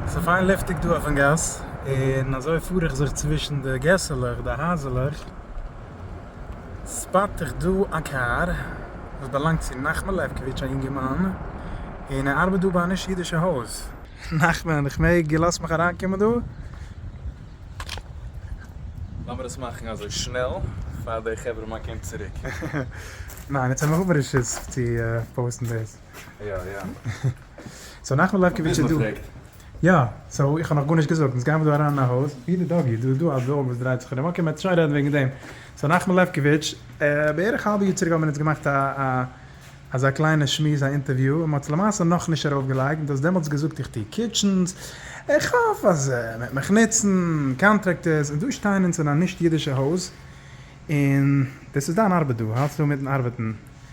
ס'איז פיין לופטיג דא אויפן גאס, און אזוי פאר איך זיך צווישן די געסעלעך, די הייזעלעך, ספאט איך דא א קאר וואס באלאנגט צו נחמה לעפקאוויטש, א יונגערמאן, און ער ארבעט דא ביי א נישט אידישע הויז. נחמן, איך מעג? איר לאזט מיך אריינקומען דא? לאמיר עס מאכן אזוי שנעל פאר די חברה מאן קומט צוריק. ניין, יעצט האב איך אבער רשות צו פאוסטן דאס. יא יא. סאו נחמן לעפקאוויטש איז דא. יא, סאו איך האב נאך גארנישט געזאגט, אונז גיימער דא אריין אין א הויז, ווי די דאגי, דא איז דא א דאג וואס דרייט זיך ארום, אקעי מ'טשעט רעדן וועגן דעם, סאו נחמן לעפקאוויטש, בערך האלב יאר צוריק האבן מיר אונז געמאכט א א אזא קליינע שמועס א אינטערוויו, און מ'האט עס למעשה נאכנישט ארויף געלייגט, און דו האסט דעמאלטס געזאגט איך טוה קיטשענס, איך האף אז מ'וועט מיך נוצן, קאנטרעקטערס, און דא שטייען אונז אין א נישט אידישע הויז, און דאס איז דיין ארבעט דא, האלטסט אן מיטן ארבעטן,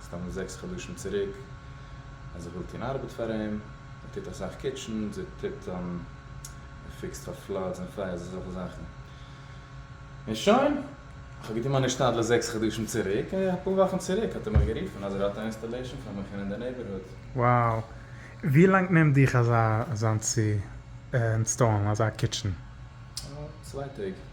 מסתם זעקס חדשים צוריק אז איך וויל טון ארבעט פאר אים, ער טוט אסאך קיטשען, ער טוט ער פיקסט פאר פלאדס און פייערס אזעלכע זאכן, און שוין, איך האב געטון מיין השתדלות זעקס חדשים צוריק, און אפאר וואכן צוריק האט ער מיך גערופן אז ער האט א אינסטאלעישאן פאר מיך אין די נעיבערהוד. Wow! ווי לאנג נעמט דיך אזא אזאנס צו אינסטאלן אזא קיטשען? צוויי טעג.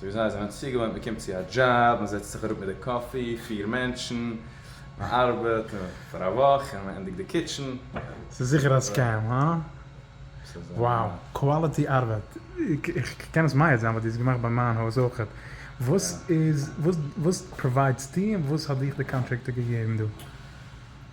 סאו וויאזוי זיי זענען צוגעוואוינט, מען קומט צו א דזשאב, מען זעצט זיך אראפ מיט די קאפי, פיר מענטשן, מען ארבעט פאר א וואך און מען ענדיגט די קיטשן. ס'איז זיכער א סקעם, הא? וואו! קוואליטי ארבעט! איך קען עס מעיד זיין ווייל דו האסט געמאכט ביי מיין הויז אויך. וואס איז, וואס פראוויידסטו און וואס האט דיך די קאנטראקטער געגעבן דא?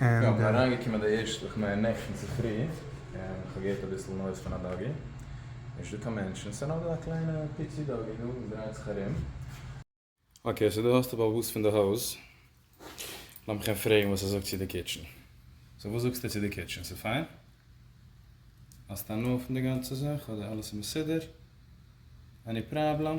יא, כ'בין אריינגעקומען די ערשטע, כ'מיין נעכטן צופרי, און כ'האב געהערט אביסל נויז פון א דאגי, נישט דא קיין מענטשן, ס'איז נאר דא א קליינע פיצי דאגי דא וואס דרייט זיך ארום. אקעי, סאו דא האסטו באבוס פון די הויז, לאמיך אים פרעגן וואס ער זאגט צו די קיטשן. סאו וואס זאגסטו צו די קיטשן? ס'איז פיין? האסט הנאה פון די גאנצע זאך אדער אלעס איז מסודר? עני פראבלעם?